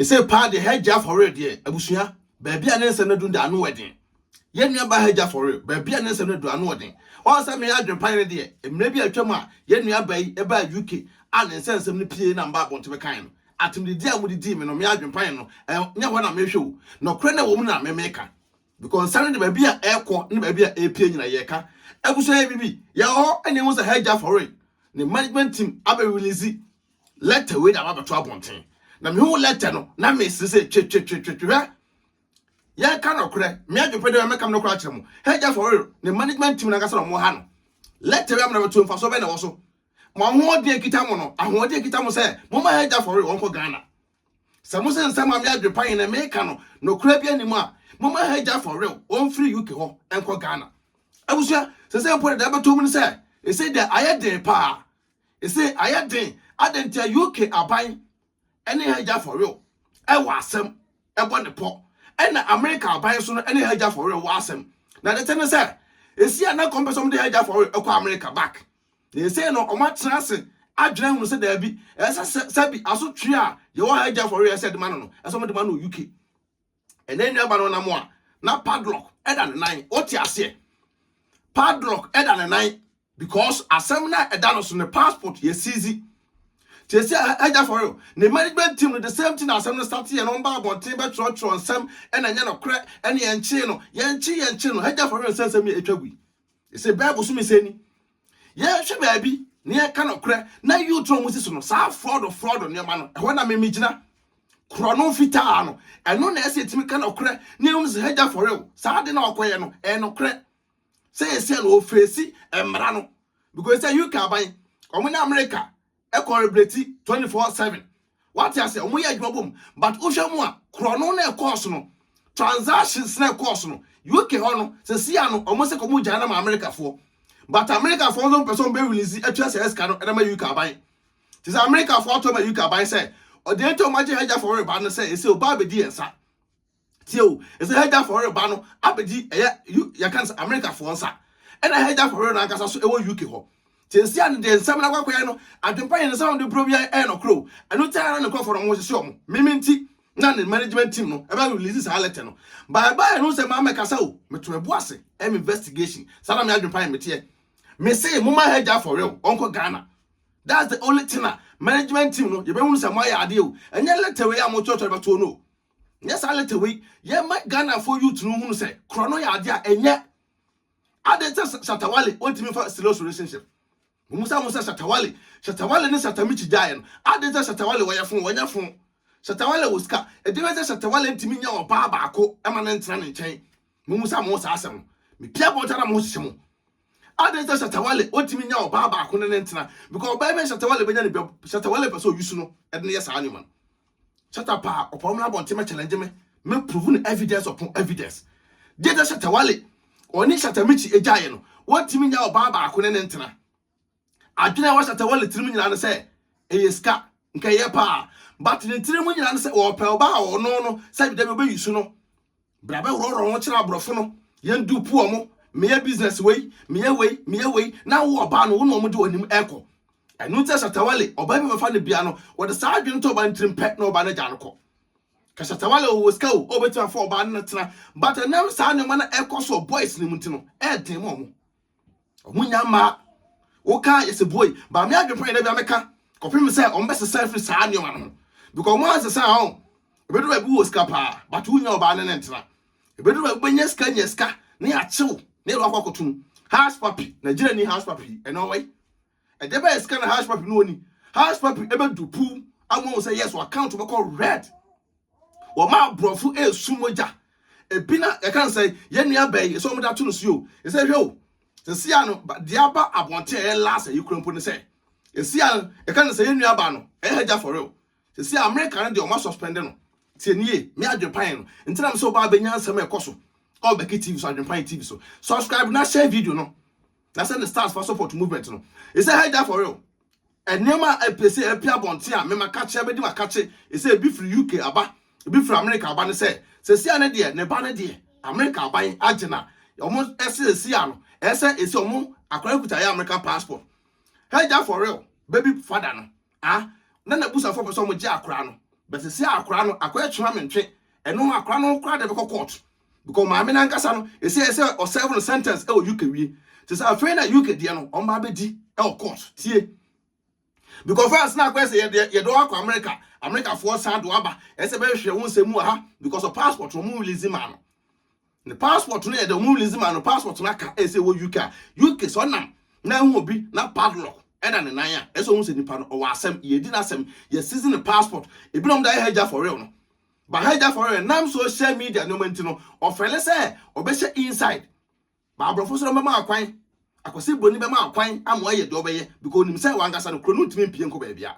Ɛsei paa deɛ Hajji Afɔwere deɛ abusua baabi a ne nsɛm no adu deɛ ano ɛden. Yɛn nua baa Hajji Afɔwere baabi a ne nsɛm no adu ano ɔden. Wɔn sɛ me adwene pan no deɛ mmerɛ bi a atwam a yɛn nua baa yi baa UK a ne nsɛnsɛm no pie na mbaa abɔnten bɛkaeɛ no. Atemdidie a mode dii me no me adwene pan no ɛnyɛ hɔ na mehwɛ o. Nɔkorɛ no a ɛwɔ mu no na me meka. Because nsa no de baabi a ɛkɔ ne baabi a ɛpie nyina yɛka. Abusua yɛ biribi. Yɛwɔ hɔ na yɛhu sɛ Hajji Afɔwere ne management team abɛ release Letter wei na aba bɛto abɔnten. Na mehu letter no na mese sɛ twe twe twe twe hwɛ. Yɛka nɔkorɛ, me adwepɛ dɛ mɛka me nɔkorɛ akyerɛ mo. Hagya for real, ne management team nankasa na ɔmo ha no. Letter wei amena bɛto mfasoɔ bɛn na ɛwɔ so? Mo ahoɔden a ekita mo no, ahoɔden a ekita mo sɛ moma Hagya for real ɔnkɔ Ghana. Sɛ mo se nsɛm a me adwepɛ ahe na meka no nɔkorɛ bi anim a, moma Hagya for real ɔmfiri UK hɔ nkɔ Ghana. Abusua, sesei mpo deɛ ɛbɛto mu ne sɛ, ɛsei deɛ ayɛ den paa. Ese ayɛ den adɛn ntia UK aban ne ha gya for real ɛwɔ asɛm ɛbɔ ne pɔ ɛna America aban nso no ne ha gya for real wɔ asɛm na dete ne sɛ esi a na kɔmpɛ sɛ ɔmo de ha gya for real ɛkɔ America back na ese no ɔmo atena ase adwene ahunu sɛ daabi ɛsɛ sɛ sɛbi asotwe a yɛwɔ ha gya for real ɛsɛ de ma no no ɛsɛ ɔmo de ma no UK Ɛnɛ nua ba no nam a na padlock ɛda ne nan ɔte aseɛ padlock ɛda ne nan because asɛm na ɛda no so ne passport yɛ siizi tie sɛ ɛgya for real ne management team no the same thing asɛm no start yɛ no ɔmba abɔnten bɛtwerɛtwerɛ nsɛm ɛna ɛnyɛ nokorɛ ɛne yɛnkyee no yɛnkye yɛnkye no ɛgya for real sɛ nsɛm yɛ ɛtwa gui ɛsɛ bible so mesɛ ni yɛhwɛ baabi na yɛka nokorɛ na youth no mu si so no saa fraud fraud nneɛma no ɛhɔ na memegyina korɔ no fitaa no ɛno na ɛsɛ ɛtumi ka nokorɛ ne ɛhu no sɛ hagya for real saa de na ɔkɔyɛ no ɛyɛ nokorɛ sɛ yɛsɛ no ɔfɛsi mmara no because sɛ uk aban ɔmo ne america collaborate twenty four seven wate aseɛ wɔn yɛ adwuma bom but wohwɛ mu a korɔno na ɛkɔɔ so no transactions na ɛkɔɔ so no UK hɔ no sɛsi ano wɔn sɛ kɔmu gyae na ma Amerikafoɔ but Amerikafoɔ nso mpɛ sɛ wɔn bɛ release atua sɛ ɛsika no ɛna ma UK aban te sɛ Amerikafoɔ ato ma UK aban sɛ ɔdeɛ nti wɔn agye hagya fɔwere ba no sɛ ɛsɛ ɔbaa bɛdi yɛn nsa tie o ɛsɛ hagya fɔre ba no abɛgye ɛyɛ yɛka no sɛ amerikafoɔ nsa ɛna hagya fɔre no ankasa so ɛwɔ uk hɔ nti nsi a no deɛ nsɛm no akɔkɔyɛ no adwempa yɛ no sɛ ɔde brɛ bi ɛyɛ nɔkorɛ o ɛno nti ara ne nkurɔfoɔ no mo hyehye ɔmo meme nti na ne management team no ɛbɛ release saa letter no bye bye no sɛ maa mɛkasa o meto mɛbo ase ɛm investigation saa na me adwempa yɛ meteɛ mese mo ma hagya fɔre o ɔnkɔ Ghana that's the only thing a management team no yɛbɛhunu sɛ moayɛ adeɛ o ɛnyɛ letter wei a mokyerɛkyerɛ bɛtoɔ no o Nyɛ saa letter wei. Yɛ ma Ghana fo youth no hunu sɛ korɔ no yɛ adeɛ a ɛnyɛ. Adeɛ sɛ Shatta Wale wɔntumi fa serious relationship. Wɔn sa ho sɛ Shatta Wale. Shatta Wale ne Shatta Michi gyaeɛ no. Adeɛ sɛ Shatta Wale wɔyɛ fo wɔnyɛ fo. Shatta Wale wɔ sika. Ɛdeɛ bɛyɛ sɛ Shatta Wale ntumi nyɛ ɔbaa baako ɛma no ntena ne nkyɛn. Wɔn sa mo ho saa asɛm no. Me pia bɔ nta na mo ho hyehye mo. Adɛn sɛ Shatta Wale ɔntumi nya ɔbaa baako ne ne ntena because ɔbaa bɛn Shatta Wale bɛnya ne bia Shatta Wale pɛ sɛ ɔyusu no ɛde no yɛ saa nneɛma no Shatta paa ɔpɛ ɔmmra abɔnten mɛ challenge me mɛ prove no evidence upon evidence deɛ sɛ Shatta Wale ɔne Shatta Michi agyaeɛ no wɔntumi nya ɔbaa baako ne ne ntena Adwene a ɛwɔ Shatta Wale tirim nyinaa ne sɛ ɛyɛ sika, nka ɛyɛ paa. But ne tirim nyinaa ne sɛ ɔpɛ ɔbaa a ɔno no sɛ dabi ɔbɛyi su no. Bra bɛworɔworɔ ho kyerɛ aborɔfo no, yɛn dupe wɔn, meyɛ business wei, meyɛ wei, meyɛ wei, na wo ɔbaa no wo ne wɔn de wɔn anim ɛkɔ. Ɛno nti na Shatta Wale, ɔbaa bi bɛfa no bia no, wɔde saa adwene to ɔbaa no tirim pɛ na ɔbaa no agya no kɔ. Ka Shatta Wale ɔwɔ sika o, ɔbɛtumi afa ɔbaa no na tena, but ɛnam saa nneɛma no ɛkɔ so wɔ boys no mu nti no, ɛyɛ den ma wɔn. Wɔn nya mmaa. Woka yɛ sɛ boi. Ba me adwene pɔn yɛ dɛ bi ka. Kɔpem sɛ wɔn bɛsesa afiri saa nneɛma no ho. Because wɔn ansesa ho. Ebedu baabi wɔ sika paa. But wonya ɔbaa ne ne ntena. Ebedu baabi bɛnya sika nya sika. Ne akyew. Ne ɛlɔ akɔ akɔtum. House papi. Nigeria ni house papi. Ɛnɛ ɔwɔ yi. Ɛdeɛ bɛyɛ sika na house papi no ɔni house papi ɛbɛdu puu ama ɔhu sɛ yes wɔ account bɛkɔ red wɔma aborɔfo ɛresu mogya ebi na yɛka no sɛ yɛn nua bɛyi ɛsɛ wɔn de ato no so o ɛsɛ hwɛ o sisi a no deɛ aba abɔnten a ɛyɛ last ɛyi kura mpo ne sɛ sisi a yɛka no sɛ yɛn nua baa no ɛyɛ hagya for real sisi a America no deɛ wɔn asuspend no tie nie me adwempan no ntina mi sɛ ɔbaa bɛnya nsɛm ɛkɔ so ɔbɛki tv so adwempan tv so subscribe na share video no. na sɛ ne stars fa support movement no ɛsɛ hey da for real nneɛma a ɛpɛ sɛ ɛpɛ abɔnten a mema kakye abɛdi ma kakye ɛsɛ ebi firi uk aba ebi firi america aba no sɛ sɛsi a ne deɛ ne ba no deɛ america aban agye na wɔn ɛsɛ ɛsi a no ɛsɛ ɛsi wɔn akora kuta yɛ american passport hey da for real baby father no a na n'abusuafo pɛ sɛ wɔgye akora no but sisi a akora no akɔ ɛkyema me ntwe ɛno ho akora no kora de bɛkɔ court because maame nankasa no ɛsɛ ɛsɛ ɔserve no sentence ɛwɔ UK wie te sɛ afei na UK deɛ no ɔmba abɛdi ɛwɔ court tie because France na akɔyɛ sɛ yɛde yɛde wɔn akɔ America Americafoɔ san de wɔn aba ɛsɛ bɛhwehwɛ wɔn nsɛm mu wɔ ha because of passport wɔn release maa no Ne passport no yɛ dɛ ɔmo release ma no passport no aka ɛsɛ wɔ UK a UK sɛ ɔnam na ehu obi na padlock ɛda ne nan a ɛsɛ ohun sɛ nipa no ɔwɔ asɛm yɛdi n'asɛm yɛ seize ne passport ebi na ɔmo de ayɛ hagya for real no ba hagya for real nam social media nneɛma nti no ɔfɛle sɛ ɔbɛhyɛ inside ba aborɔfo soro bɛma akwan akwasi broni bɛma akwan ama ɔyɛ deɛ ɔbɛyɛ because onim sɛ wankasa no kuro no ntumi mpie nkɔ baabi a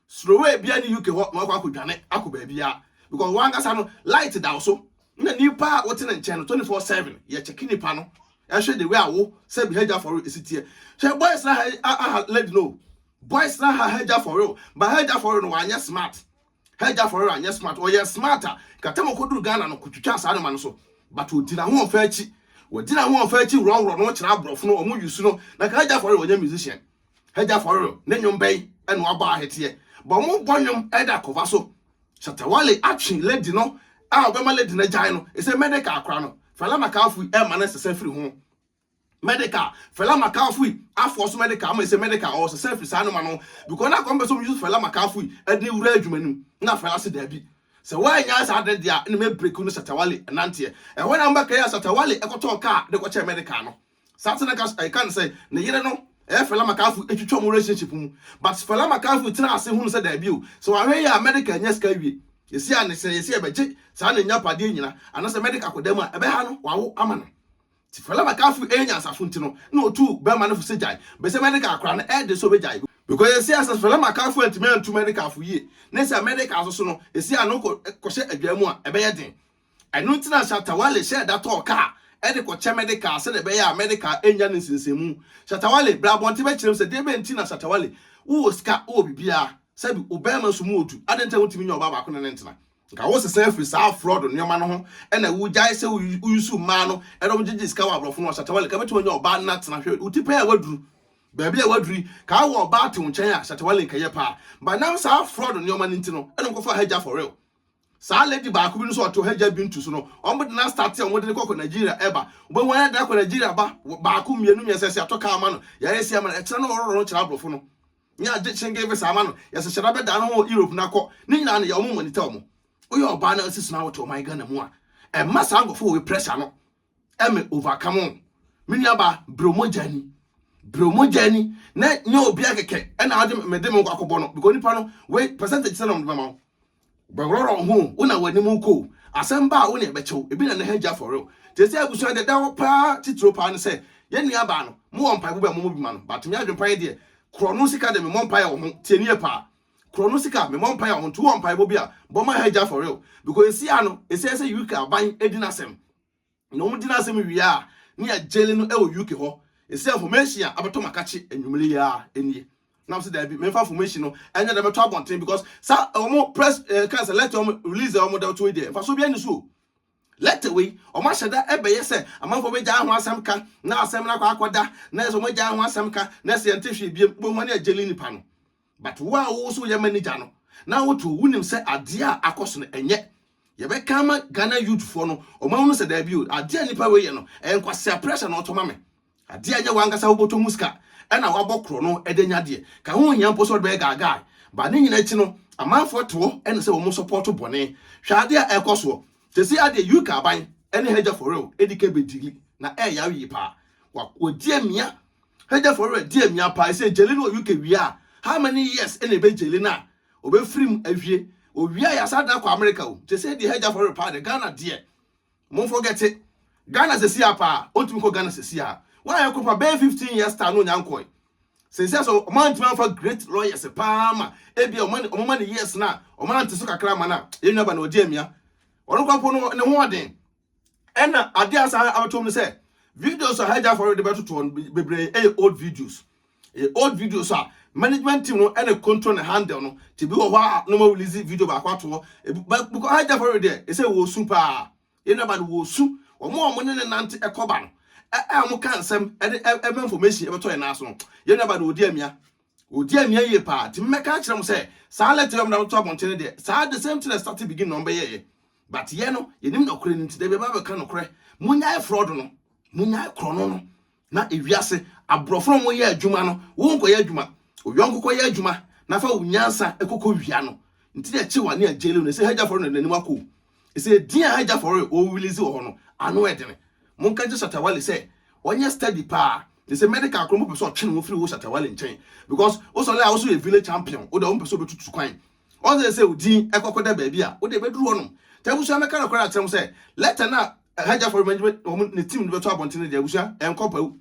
Srowee biaa ni UK hɔ na wakɔ akɔ dwane akɔ baabiaa because wankasa no light da wo so na nipa a wote ne nkyɛn no 24 7 yɛ checki nipa no ɛhwɛ the way a wo sɛ bi hagya fɔre esi teɛ hwɛ boys na ha aha lady no boys na ha hagya fɔre o ba hagya fɔre no wanyɛ smart hagya fɔre anyɛ smart ɔyɛ smart a katam ɔkɔduru Ghana no kotwitwa saa noma no so but odi n'ahoɔfɛ akyi wɔdi n'ahoɔfɛ akyi worɔworɔ no kyerɛ aborɔfo no wɔn yusu no na ka hagya fɔre wɔnyɛ musician Hagya afɔre no, ne nnwom bɛn na wɔabɔ ahweteɛ? Bɔ mo bɔ nnwom de akɔfa so. Shatta Wale atwe lady no a ɔbɛma lady no agyae no, ɛsɛ Medeka akora no. Fela Makafui ɛmma no nsesa firi ho. Medeka, Fela Makafui aforce Medeka ama ɛsɛ Medeka ɔresesa firi saa nneɛma no ho because na kɔmpɛ sɛ ɔmo use Fela Makafui de no wura adwuma no mu na Fela se daabi sɛ woannya saa ade no deɛ a ɛna mɛbreak wo ne Shatta Wale nanteɛ. Ɛhɔ na mobɛkae a Shatta Wale kɔtɔɔ kaa de kɔkyɛɛ Medeka no. Saa na ɛka ɛka no sɛ ne yere no ɛyɛ Fela Makafu etwitwa wɔn relationship mu but Fela Makafu tena ase hunu sɛ daabi o sɛ wahwɛ yie a America anya sika awie yɛsi a ne sɛ yɛsi ɛbɛgye saa ne nya padeɛ nyina anasɛ America akɔda mu a ɛbɛha no wawo ama no ti Fela Makafu ɛyɛ nyansafo nti no na otu bɛrima no fo sɛ gyae bɛsɛ America akora no ɛde sɛ obɛgyae because yɛsi a sɛ Fela Makafu antumi antu America fo yie ne sɛ America nso so no yɛsi a no kɔ kɔhyɛ adwaa mu a ɛbɛyɛ den Ɛno nti na Shatta Wale hyɛɛ da tɔɔ kaa de kɔkyɛ Medikal sɛdeɛ ɛbɛyɛ a Medikal rennya no nsensɛnmu. Shatta Wale, bra abɔnten bɛkyerɛ mu sɛ deɛ bɛn nti na Shatta Wale, wowɔ sika, wowɔ biribiara, sɛbi wo barima nso mu ɔdu, adɛn nti na wontumi nyɛ ɔbaa baako ne no ntena? Nka wosesa afiri saa frɔɔd nnoɔma no ho na wogyae sɛ woyusu mmaa no na wɔgyegye sika wɔ aborɔfo no hɔ, Shatta Wale, nka wobɛtumi anya ɔbaa no na atena, hwɛ wo ti pɛn a woaduru baabi a woaduru yi, nka wowɔ ɔbaa te wo nkyɛn a, Shatta Wale, nka ɛyɛ paa, but nam saa frɔɔd nnoɔma no nti no na wokɔfaa Hajjah for real. Saa lady baako bi no so ɔte ɔhagya bintu so no ɔmo de na starte ɔmo de no kɔkɔ Nigeria ɛba wobɛhu ayɛ da kɔ Nigeria ba baako mmienu mmiɛnsa yɛsi atɔ kaa ama no yɛayɛ si ama no ɛkyerɛ no ɔrɔrɔ no kyerɛ aborɔfo no nyɛ agye kyenge visa ama no yɛsɛ hyɛ da bɛda no ho Europe na kɔ ne nyinaa no yɛ ɔmo monitor ɔmo woyɛ ɔbaa na sisi na wote ɔman Ghana mu a ɛmma saa nkorɔfo wɔ pressure no ɛmɛ overcome o me nua ba brɛ mogya ni brɛ mogya ni na nyɛ obiara kɛkɛ ɛna ɔde me de me nkɔ akɔbɔ no because nipa no wei percentage sɛ na ɔmo de bɛma wo bɛworɔrɔ ho wo na w'anim kɔ o asɛm ba a wo na ɛbɛkyɛw ebi na ne ha gya for real te sɛ abusua deɛ da hɔ paa titiro paa no sɛ yɛn nua baa no mo wɔ mpaebɔ bɛ mo mo bi ma no but me adwempa yɛ deɛ korɔ no sika de me mmɔ mpaeɛ wɔ ho tie nie paa Korɔ no sika me mɔ mpae a ɔnto wɔ mpaebɔ bi a bɔ ma ha agya for real because esi a no esɛ sɛ UK aban edi n'asɛm na wɔn di n'asɛm wie a ne yɛ gyele no ɛwɔ UK hɔ esɛ information a abɛtɔ makakye anwumere yi ara enie nam sɛ daabi memfa information no ɛnyɛ dɛ mɛtɔ abɔnten because sa wɔn press eh, kan sɛ letter wɔn release wɔn dɛ ɔto wei deɛ mfaso bi ani so letter wei wɔn ahyɛ da ɛbɛyɛ sɛ amanfoɔ bɛgya ho asɛm ka na asɛm no akɔ akɔda na ɛsɛ wɔn agya ho asɛm ka na ɛsɛ yɛn te hwee biem wobɛhu ne yɛ gyele nipa no But wo a wo so yɛ manager no na wo to wo nim sɛ adeɛ a akɔ so no ɛnyɛ yɛ bɛ ka ama Ghana youth foɔ no ɔmo ahunu sɛ daabi o adeɛ a nipa wei yɛ no ɛyɛ nkwasea pressure na ɔtɔ ma me adeɛ a ɛnyɛ wo ankasa wo bɔtɔ mu sika ɛna wo abɔ korɔ no ɛde anya adeɛ ka ho hia mpo sɛ ɔde bɛyɛ guy guy ba ne nyina akyi no amanfoɔ te hɔ ɛne sɛ ɔmo support bɔne hwɛ adeɛ a ɛkɔ soɔ sɛsi adeɛ UK aban ɛne Hagya for real ɛdi kɛ bɛ dili na ɛyɛ awie paa wa wɔdi amia Hegya for werɛ dear mia paa ɛsɛ gyeli no wɔ UK wie a how many years ɛna ɛbɛ gyeli no a ɔbɛ firi mu awie ɔwie a yasa dan akɔ America o nti ɛsɛ deɛ hegya for werɛ paa deɛ Ghana deɛ mo forgete Ghana sɛsi a paa ɔntumi kɔ Ghana sɛsi a wa yɛ kɔpa bɛyɛ 15 years time no ɔnya nkɔɛ sɛsi a sɛ ɔma ntumi anfa great lawyers paa ma ebia ɔma ne ɔma ma ne years na ɔma nante so kakra ma na yɛ nua ba na ɔdi amia ɔno kɔ mpo no ne ho ɔden Ɛna ade a saa abɛto mu no sɛ videos a hajj afɔre de bɛtoto hɔ no bebree yɛ old videos ɛyɛ old videos a management team no ɛna control ne handle no te bi wɔ hɔ a no ma release video baako ato hɔ because hajj afɔre deɛ ɛsɛ wɔ su paa yɛn naba no wɔ su wɔn a wɔn ne ne nante ɛkɔba no a wɔn ka nsɛm ɛde ɛma information ɛbɛtɔ yɛn nan so no yɛn naba no wɔdi amia Ɔdi amia yie paa nti me mɛka akyerɛ mo sɛ saa letter yi a wɔde ato abɔnten no deɛ saa the same thing na starting beginning na wɔbɛyɛɛyɛ but yɛ no yɛnim nɔkorɛ no nti da bi ɛbɛba bɛka nɔkorɛ monyae fraud no monyae korɔno no na ewiase aborɔfo no wɔyɛ adwuma no wo nkɔyɛ adwuma oyɔnko kɔyɛ adwuma na fa wo nyansa ɛkɔkɔ wia no nti na ɛkye wa ne agyele no ɛsɛ hagya fɔre no n'anim akɔ Ɛsɛ din a agya fɔre ɔwilisi wɔ hɔ no ano ɛdene. Monka nkyɛ Shatawale sɛ ɔnyɛ study paa. Te sɛ medical koro mopɛ sɛ ɔtwe ne ho firi wo Shatawale nkyɛn because wo sɔle a wo so yɛ village champion wo deɛ wompɛ sɛ ɔbɛtutu kwan. Ɔsɛ sɛ odin ɛkɔkɔ da baabi a wo deɛ ɛbɛduru hɔ nom. Nti abusua mɛka nokorɛ akyerɛ mo sɛ letter no a agya fɔre management wɔn ne team no bɛto abɔnten no deɛ abusua ɛnkɔ pawu.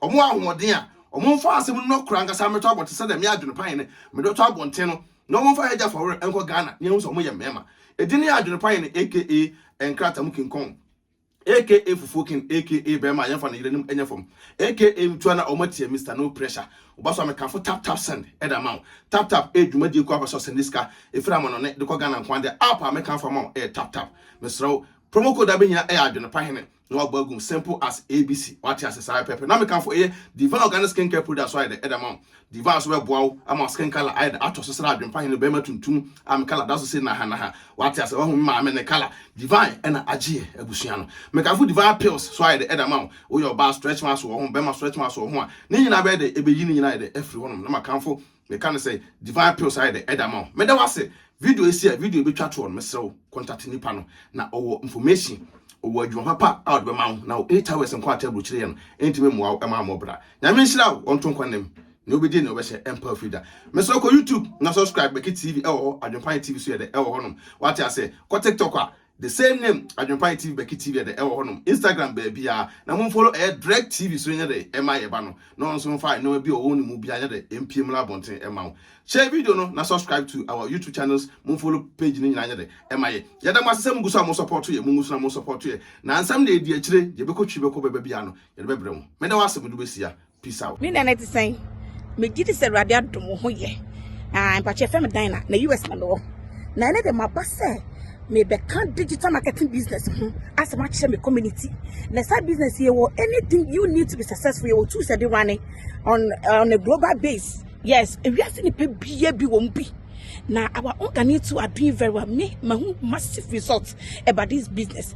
Wɔn ahoɔden a wɔmfa asɛm no no kora ankasa mmɛtɔ abɔnten sɛdeɛ me adwene pan ne mede ɔtɔ abɔnten no na wɔmfa Hagya Fawere nkɔ Ghana na yɛahu sɛ wɔyɛ mmarima. Ɛdin ne adwene pan ne aka nkrataa mu kinkɔn aka fufuo kin aka bɛrima a yɛmfa ne yere nom nyɛ fam aka mtua na wɔn atia Mister No Pressure. Ɔba so a mekamfo Tap Tap Send ɛda ama wo. Tap Tap ɛyɛ dwumadie kuo a wopɛ sɛ ɔsɛnde sika ɛfiri amanɔne de kɔ Ghana nko ara deɛ app a mɛkamfo ama wo ɛyɛ Tap Tap. Mesrɛ wo, promo code a bɛhia ɛyɛ adwene pahene. na wabɔ agum simple as abc wate ase saa pɛpɛ na meka fo ɛyɛ divine organic skin care product so ayɛ dɛ ɛda ma wo divine so bɛboa wo ama skin color ayɛ dɛ atɔ so sra adwempa hene bɛrima tuntum a me color da so se naha naha wate ase wahu me maame ne color divine ɛna agyeɛ abusua no meka fo divine pills so ayɛ dɛ ɛda ma wo woyɛ ɔbaa stretch marks wɔ ho bɛrima stretch marks wɔ ho a ne nyinaa bɛyɛ dɛ ɛbɛyi ne nyinaa ayɛ dɛ afiri hɔnom na makamfo Meka no sɛ Divine Pills ayɛ dɛ ɛda ama wo. Meda wo ase. Video yi si a video yi betwa toɔ no mesrɛ wo contact nipa no na ɔwɔ information, ɔwɔ adwuma papa a ɔde bɛma wo na wo eight hours nko a table kyerɛ yɛ no ɛntumi mmoa wo ɛma ammɔ bra. Nyame nhyira wo ɔnto nkwa nna mu. Nea ɔbɛdie nea ɔbɛhyɛ ɛmpa firi da. Mesrɛ kɔ YouTube na subscribe Becky TV ɛwɔ hɔ, Adwempa Nye TV nso yɛ dɛ ɛwɔ hɔnom. Wate aseɛ? Kɔ TikTok a The same name adwenpae tv bɛke tv ɛdɛ ɛwɔ hɔ nom instagram baabiaa na mo mfolo ɛyɛ drek tv so nyɛdɛ ɛma yɛba no na ɔnso mfa nnoɔma bi ɔwɔ ne mu bia nyɛdɛ ɛmpie mmra abɔnten ɛma wo share video no na subscribe to our youtube channels mo mfolo page no nyinaa nyɛdɛ ɛma yɛ yɛda mo ase sɛ mo gu so a mo sɔpɔto yɛ mo gu so na mo sɔpɔto yɛ na nsɛm na ɛdi akyire deɛ ɛbɛkɔ twiri bɛkɔ bɛba biaa no yɛde bɛbrɛ mo meda wo ase mede wo bɛsia Peace out. Nina na ɛte sɛn? Megye di sɛ Awurade adom wo ho yɛ. Ah, mpakyɛ fɛ me dan na na US na mewɔ. Na ɛne de maba sɛ mebɛka digital marketing business ho asɛm akyerɛ me community. Na saa business yɛ wɔ anything you need to be successful yɛ wɔ tools ɛde running on on a global base. Yes, ewiase nipa bia bi wɔn bi. Na our organic too are doing very well. Me, my massive results about this business.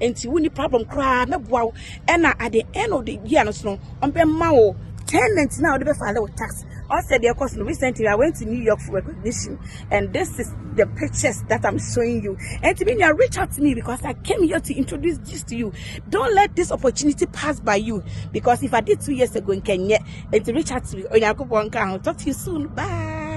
nti wonni problem koraa mɛboa wo ɛna at the end of the year no so no ɔbɛma wo tenant na ɔde bɛfile wo tax ɔsɛ deɛ ɛkɔ so no recently i went to new york for recognition and this is the pictures that i'm showing you and to me now reach out to me because i came here to introduce this to you don't let this opportunity pass by you because if i did two years ago in kenya and to reach out to me onyankopɔn ka ho talk to you soon bye